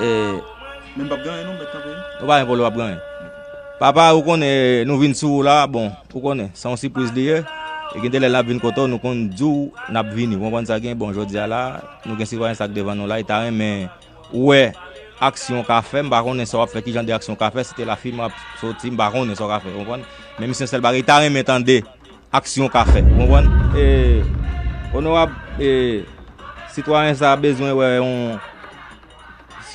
e. Men mpap gen anyen non mèt kanpe. Ou pa gen pwoblèm wap gen anyen. Papa ou konnen nou vin sou ou la bon ou konnen se yon sipriz li ye e gen de lè lap vin kote w nou konn di w nap vini ou konprann sa gen bon jodi a la nou gen sitwayen sa k devan nou la e ta renmen wè aksyon w ka fè m pa konnen sa wap fè ki jan de aksyon w ka fè si te la fi m ap soti m pa konnen sa w ka fè ou konprann men misye sèl bagay li ta renmen tande. aksyon ka fè. Ou konprann? E, onorab, e, sitwayen sa a bezwen wè yon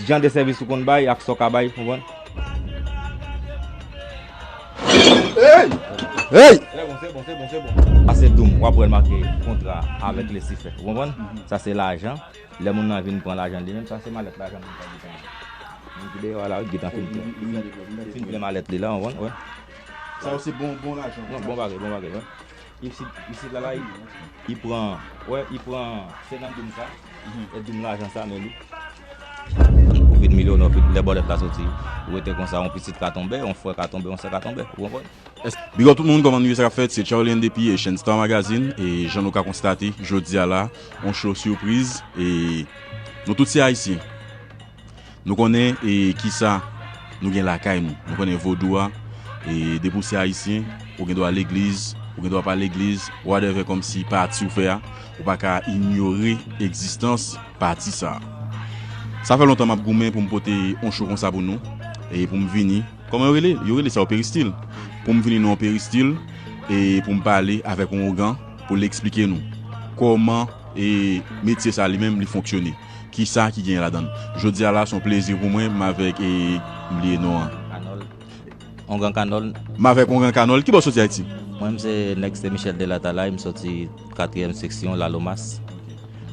jan de sèvis ou konn bay ak sa w ka bay. Ou konprann? Eyy! Eyy! Se bon, se bon, se bon, se bon. Pase dou m, w ap wè l make kontra a avèk lesifè. Ou konprann? Sa se lajan. Lè moun nan vin pran lajan l li menm, sa se malèt lajan moun sa ki pran an. Moun ki deyò a la, wi, ki gentan fin plen. Fin plen malèt li la, ou konprann? Ou wè? Sa yo se bon bon lajan. Bon bon bagay bon bagay wè. Ipsi isit la la i i pran wè i pran 50 doum sa e doum lajan sa men li. Ou vin milyonè ou vin lè bòlèt la soti ou rete konsa yon pitit ka tonbe yon frè ka tonbe yon sè ka tonbe ou konprann. Big up tout moun kòman nou ye sa kap fèt se Charlene depi Haitian Star Magazine e jan nou ka konstate jodia la yon show surprise e nou tout se ayisyen. Nou konnen e kisa Nou gen lakay nou Nou konnen vodou a e depi w se ayisyen ou gen dwa legliz ou gen dwa pa legliz whatever komsi pati w fè a ou pa ka inyore egzistans pati sa sa fè lontan m ap goumen pou m pote on show konsa pou nou e pou m vini koman yo rele yo rele sa yo peristil pou m vini nan on peristil e pou m pale avèk on ougan pou l eksplike nou koman e metye sa li menm li fonksyone. Kisa ki genyen ladann. Jodia la son plezi pou mwen m avek e m bliye non an. Kanol. Ongan kanol. M avek ongan kanol. Kibò w soti ayiti? Mwen m se nèg Sen Michel de Latalay m soti katriyèm seksyon lalomas.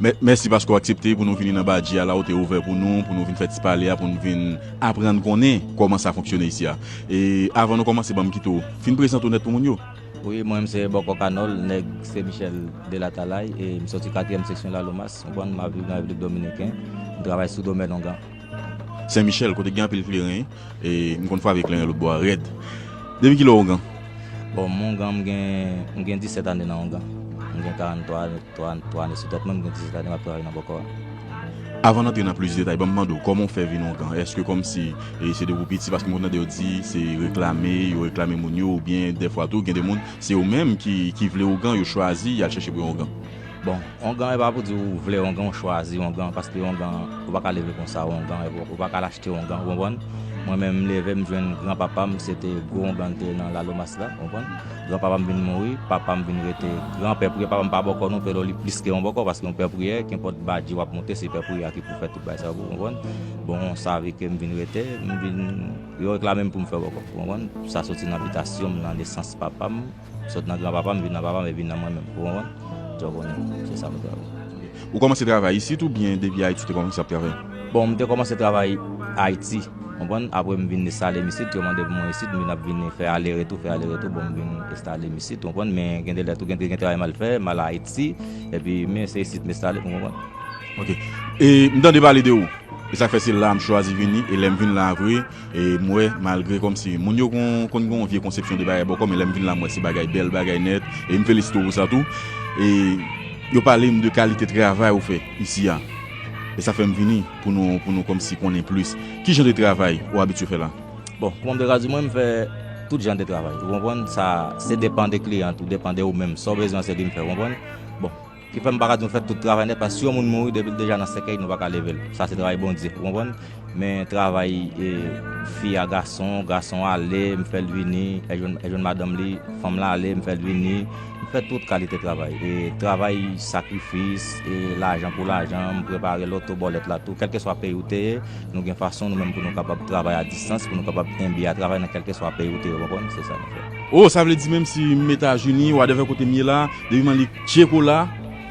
Mèsi paske w aksepte pou nou vini nan Badji a la ou te ouvè pou nou pou nou vin fè ti pale a pou nou vin aprann konnen kòman sa fonksyone isi a. E avan nou kòmanse banm kite w fin prezante w nèt pou moun yo. Wi mwen m se bòkò kanòl nèg se michel de la talay e m soti katriyèm seksyon lalomas konprann m ap viv nan repiblik dominiken m travay sou domèn ongan. Sen michel kote gen anpil kleren e m konn frape kleren lotbò a rèd depi kilè w ongan? Bon m ongan m gen m gen 17 ane nan ongan m gen 43 ane sou tèt mwen m gen 17 ane m ap travay nan bòkò a. Avan n antre nan plis detay ban m mande w kòman w fè vin on kan? Èske kòmsi e se depi w piti paske m konn tande yo di se reklame yo reklame moun yo oubyen dèfwa tou gen de moun se yo menm ki ki vle ougan yo chwazi y al chèche pou yo ougan? Bon ongan e pa pou di ou vle ongan ou chwazi ongan paske ongan ou pa ka leve konsa ou ongan ou pa ka al achte ongan ou konprann mwen menm m leve m jwenn gran papa m se te gwo ongan l te nan lalomas la ou konprann. Gran papa m vin mouri, papa m vin rete gran pè priyè, papa m pa bòkò non pero li plis ke yon bòkò paske yon pè priyè kenpòt badji wap moute se pè priyè a ki pou fè tout bagay sa yo pou ou konprann, bon sa vi ke m vin rete m vin yo reklamem pou m fè bòkò ou konprann, sa soti nan bitasyon m nan nesans papa m, sot nan gran papa m vin nan papa m e vin nan mwen menm ou konprann, sa w konnen se sa m vle fè a. Ou kòmanse travay isit oubyen depi Ayiti ou te kòmanse ap travay? Bon, m te kòmanse travay Ayiti, konprann, apre m vin estale m isit, yo mande pou mwen isit, m vin ap vini fè ale retou, fè ale retou, bon m vin estale m isit, konprann, men gen de lè tou gen te gen travay m al fè, m al Ayiti, epi men se isit m estale, ou konprann. Ok. E m tande pale de ou, e sa k fè se la a m chwazi vini, e lè m vin la a vre, M wè malgre kòmsi moun yo konn gen yon vye konsepsyon de bagay bòkò men lè m vin la m wè se bagay bèl bagay nèt e m felisite w pou sa tou e yo pale m de kalite travay ou fè isi a e sa fè m vini pou nou pou nou kòmsi konnen plis ki jan de travay ou abitye fè la. Bon kòman m te ka di mwen m fè tout jan de travay ou konprann sa se depan de kliyan tou depan de ou menm sa w bezwen se li m fè ou konprann bon. Ki fè m pa ka di nou fè tout travay nèt paske si yon moun mouri depi l deja nan sèkèy nou pa ka leve l sa se travay Bondye ou konprann men travay fi a gason gason a ale m fè l vini e jwenn madanm li fanm lan ale m fè l vini m fè tout kalite travay e travay sakrifis e lajan pou lajan m prepare loto bòlèt la tou kèlkeswa peyi ou te ye nou gen fason nou menm pou nou kapab travay a distans pou nou kapab enbi a travay nan kèlkeswa peyi ou te ye ou konprann se sa nou fè. O sa vle di menm si m etazini wadèvè kote m ye la depi m annik. Tchie kola,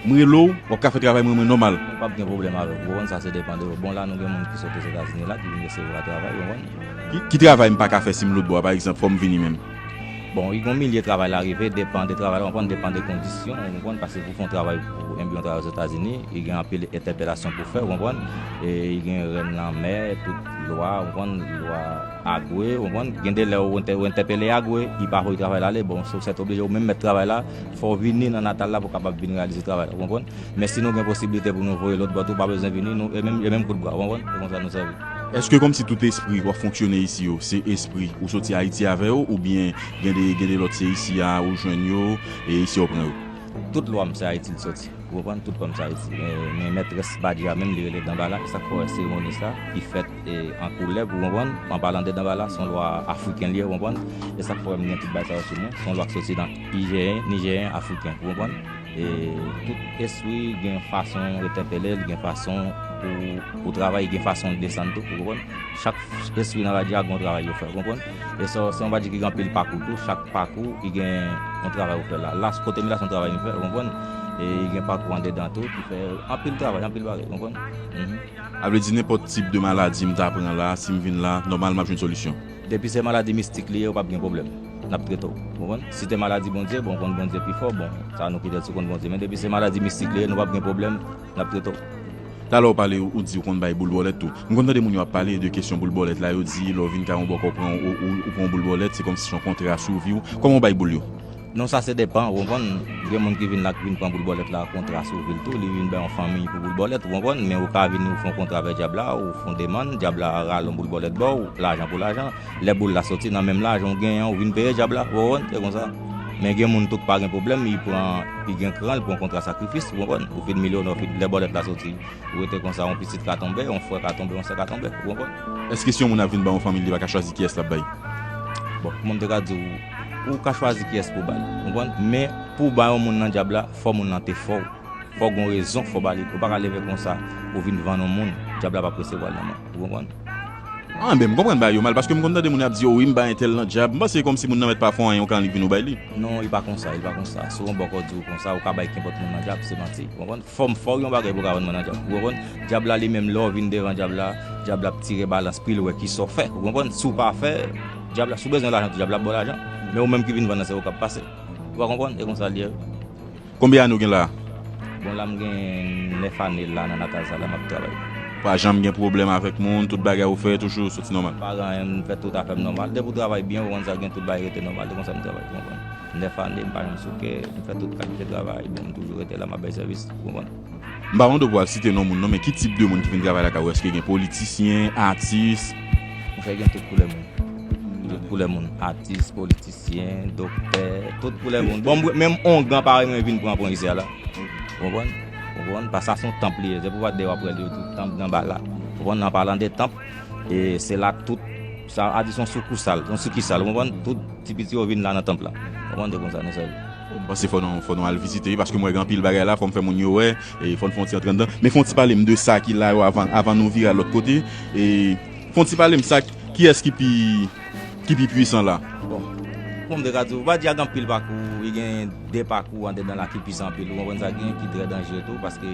m rele w, w ap ka fè travay mwen mwen nòmal. Mwen p ap gen pwoblèm avè w, ou konprann, sa se depan de ou. Bon, la nou gen moun ki sot Ozetazini la, ki vin eseye vwa travay, ou konprann. Ki travay m pa ka fè si m lotbò a, pa egzanp, fò m vini menm? Bon, wi, gen yon milye travay la rive, depan de travay la, ou konprann, depan de kondisyon, ou konprann, paske pou w fè yon travay, pou enbi yon travay Ozetazini, li gen anpil entèpelasyon pou w fè, ou konprann, e li gen rèn lanmè, tout lwa, ou konprann, lwa. Agwe, ou konprann, gen de lè ou entèpele Agwe, li pa voye travay la ale, bon, se ou sètoblije ou menm mèt travay la, fò ou vini nan natal la pou w kapab vin reyalize travay la, ou konprann. Men si nou gen posiblite pou nou voye lòt bò tou, ou pa bezwen vini, nou, e menm, e menm kout bra, ou konprann, se konsa nou sèvi. Èske kòmsi tout espri w ap fonksyone isi yo, se espri ou soti Ayiti avè yo, oubyen gen de, gen de lòt se isi a ou jwenn yo, e isi a ou pran yo? Tout lwa m se Ayiti li soti, ou konprann, tout lwa m se Ayiti, men, men mètrès Badji a menm li rele Danbala, e sa k fè w wè seremoni sa a ki fèt, e an koulèv ou konprann an palan de danbala son lwa afriken liye ou konprann e sak fè mwen gen tout bagay sa yo sou mwen son lwa ki soti nan ijeyen nijeyen afriken ou konprann e tout espri gen yon fason yo tèpelel gen fason pou pou travay gen fason yo desann tou ou konprann chak espri nan radya gon travay yo fè ou konprann e sa se yon bagay ki gen anpil pakou tou chak pakou ki gen yon travay ou fè la la kote m ye la se yon travay m fè ou konprann e gen pakou andedan tou ki fè anpil travay anpil bagay ou konprann A vle di nenpòt tip de maladi m ta pran la, si m vin la, nòmal m ap jwenn solisyon. Depi se maladi mistik li ye, ou p ap gen pwoblèm. N ap trete w. Ou konprann? Si te maladi Bondye, bon, ou konn Bondye pi fò, bon, sa nou pètèt sou konn Bondye. Men depi se maladi mistik li ye, nou p ap gen pwoblèm, n ap trete w. Talè ou pale, ou di ou konn bay boul bòlèt tou. M konn tande moun yo ap pale de kesyon boul bòlèt la, yo di lè w vin kay yon bòkò ou pran yon, ou pran yon boul bòlèt, se kòmsi se yon kontra sou vi w. Kòman ou bay boul yo? Non sa se depan ou konprann, gen moun ki vin la ki vin pran boul bòlèt la kontra sou vil tou, li vin bay yon fanmiy pou boul bòlèt ou konprann, men ou ka vini ou fè yon kontra avè dyab la, ou fè yon demann, dyab la rale yon boul bòlèt ba ou, lajan pou lajan, lè boul la soti nan menm lajan ou genyen an ou vin peye dyab la, ou konprann, se konsa. Men gen moun tou ki pa gen pwoblèm, li pran, li gen kran, li pran kontra sakrifis, ou konprann, ou fin milyonè ou fin, lè bòlèt la soti, ou rete konsa yon pitit ka tonbe, yon frè ka tonbe, yon sè ka tonbe, ou konprann. Èske si yon moun ap vin ba yon fanmiy li pa ka chwazi kiyès lap bay? Bon, kouman m te ka di ou. Ou ka chwazi kiyès pou w ba li. Ou konprann? Men, pou w ba yon moun nan dyab la, fò moun lan te fò w. Fò gen yon rezon fò w ba li. Ou pa ka leve konsa pou w vin vann yon moun. Dyab la p ap resevwa l nan men w. Ou konprann? Anben, m konprann bagay yo mal, paske m konn tande moun y ap di yo, wi m bay entèl nan dyab. M panse se kòmsi moun nan mèt pa fè w anyen, ou ka annik vin ou bay li. Non, li pa konsa, li pa konsa. Si yon bòkò di w konsa, ou ka bay kenpòt moun nan dyab, se manti. Ou konprann? Fò m fò w yon bagay pou w ka vann mwen nan dyab. Ou konprann? Dyab la li menm, lè w vin devan dyab la, dyab la ap tire balans pri l wè kisa w fè. Ou konprann? Si w pa fè. Dyab la, si w bezwen lajan tou dyab la ap ba w lajan, men ou menm ki vin vann nan se ou k ap pase. Ou pa konprann? E konsa l ye wi. Konbyen ane ou gen la a? Bon la m gen 9 ane la nan natal sa la m ap travay. Ou pa janm gen pwoblèm avèk moun, tout bagay ou fè toujou soti nòmal? Pa gen anyen, m fè tout afè m nòmal. Depi ou travay byen ou konn sa gen tout bagay rete nòmal. E konsa m travay, ou konprann. 9 ane m pa janm souke, m fè tout kalite travay, bon m toujou rete la m ap bay sèvis, ou konprann. M pa wont ou pou ap site non moun non men ki tip de moun ki vin travay lakay ou eske gen politisyen, atis. M fè gen tout koulè moun. Tout koulè moun atis, politisyen, doktè, tout koulè moun. Bon menm ongan parèy mwen vin pran pwen isit la. Ou konprann? Ou konprann? Pask sa son tanp li ye. Se pou w pa deyè w ap wè l yo tou tanp nan ba la. Ou konprann? An palan de tanp e se la tout. Sa a di son soukoussal, son sikisal, ou konprann? Tout ti piti yo vin la nan tanp la. Ou konprann? Se konsa nou sèvi. M panse fò nou fò nou al vizite wi paske m wè gen anpil bagay la fò m fè moun yo wè e fò n fè yon ti antre anndan men fè yon ti pale m de sa ki la yo avan avan nou vire al lòt kote e fè yon ti pale m sa kiyès ki pi ki pi pwisan la. Bon kòman m te ka di w m pa di a gen anpil pakou e gen de pakou andedan la ki pwisan anpil ou konprann sa gen ki trè danjere tou paske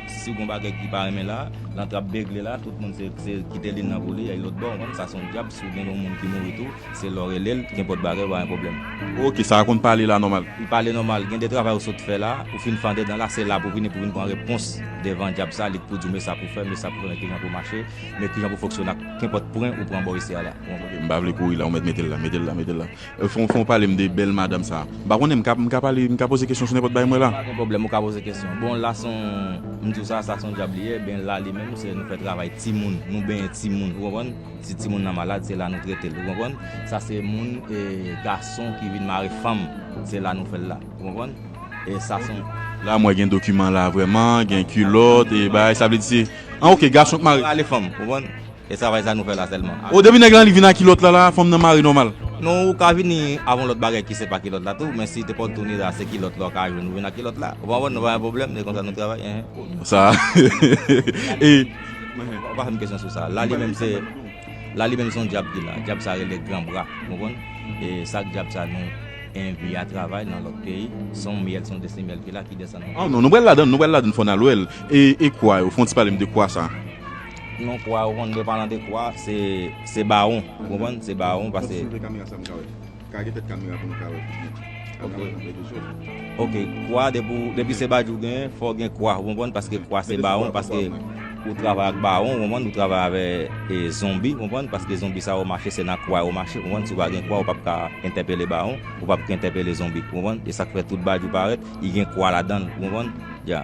Si gon bagay ki pa renmen la, lan trap begle la, tout moun se kite lin nan pou li, èy lotbò, ou konn, sa son dyab, si w gen yon moun ki mouri tou, se lè w rele l, kenpòt bagay, pa gen pwoblèm. Ok, sa a konn pale la nòmal. Li pale nòmal, gen de travay ou sot fè la, ou fin fande dan la, se la pou vini pou vin pran repons devan dyab sa, li k pou di w me sa pou fè, me sa pou fè, me kijan pou mache, me kijan pou fonksyone ak kenpòt pwen ou pran bò isi a la. Bon, ok, m pa vle kouri la, ou mèt mete l la, mete l la, mete l la. Fon fon palem de bel madam sa. M pa konnen m ka m ka pale m ka poze kesyon sou nenpòt bagay mwen la? Pa gen pwoblèm ou ka poze kesyon. Bon la son m di w sa sa son djab li ye ben la li menm se nou fè travay timoun nou benyen timoun ou konprann si timoun nan malad se la nou trete l ou konprann sa se moun e gason ki vin mare fanm se la nou fè l la ou konprann e sa son. La m wè gen dokiman la vrèman gen kilòt e bagay sa vle di se an ok gason k mare. Mare fanm ou konprann. E travay sa nou fè la sèlman. Oh depi nèg lan li vin a kilòt la la fanm nan mare nòmal. Non ou ka vini avon lòt bagay ki se pa kilòt la tou men si te pòt touni la se kilòt la ou ka jwenn ou vin a kilòt la ou konprann nou pa gen problèm se konsa nou travay eeh. Sa e. Ou pa fè m kesyon sou sa la li menm se la li menm son djab ki la djab sa rele gran bra ou konprann e sak djab sa nou envi a travay nan lòt peyi son myèl son desi myèl ki la ki desann. Oh non nou pral ladann nou pral ladann fò n al wè l e e kwa yo fon ti pale m de kwa sa. Non kwa yo konn byen palan de kwa se se bawon ou konprann se bawon pase. Map swiv e kamera sa m ka wè. Ka gen tèt kamera pou nou ka wè plis byen. Ok kwa depi se badjou gen fò gen kwa ou konprann paske kwa se bawon paske ou travay ak bawon ou konprann ou travay avè zonbi ou konprann paske zonbi sa yo mache se nan kwa yo mache ou konprann si ou pa gen kwa ou pap ka entèpele bawon ou pap ka entèpele zonbi ou konprann e sak fè tout badjou parèt li gen kwa ladanl ou konprann ya.